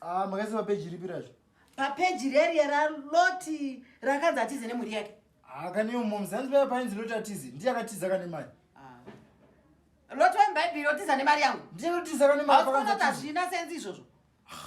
Ah, makaisa papeji ripi razvo? Papeji reriya raLoti rakanzi atize nemhuri yake. Ah, kane momzi hanzi paya painzi Loti atize. Ndiye akatiza kane mari. Ah. Loti wemuBhaibheri otiza nemari yangu. Ndiye otiza kane mari pakanzi atize. Hazvina senzi izvozvo.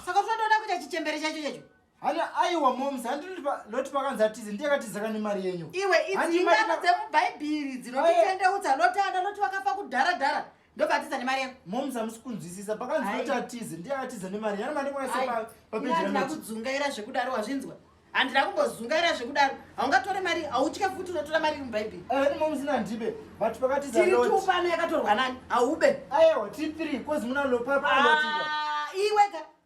Saka tinotoda kuita chichembere chacho chacho. Hana aiwa momzi hanzi Loti pakanzi atize ndiye akatiza kane mari yenyu. Iwe idzi ingano dzemuBhaibheri dzinotitendeutsa Loti ana Loti vakafa kudhara dhara. ndobva atiza nemari yako moms hamusi kunzwisisa pakanzi kuti atize ndiye atiza nemari yana mari kwayasepapejiandina kudzungaira zvekudaro wazvinzwa handina kumbozungaira zvekudaro haungatore mari hautye futi unotora mari mubhaibheri eh, ni moms nandibe but pakatizatiriupano yakatorwa nani haube ayewa tiri three kozi muna lopapaatiza ah, iweka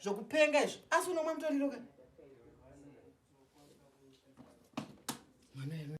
zvokupenga izvo asi unomwa mutoriro ka mwana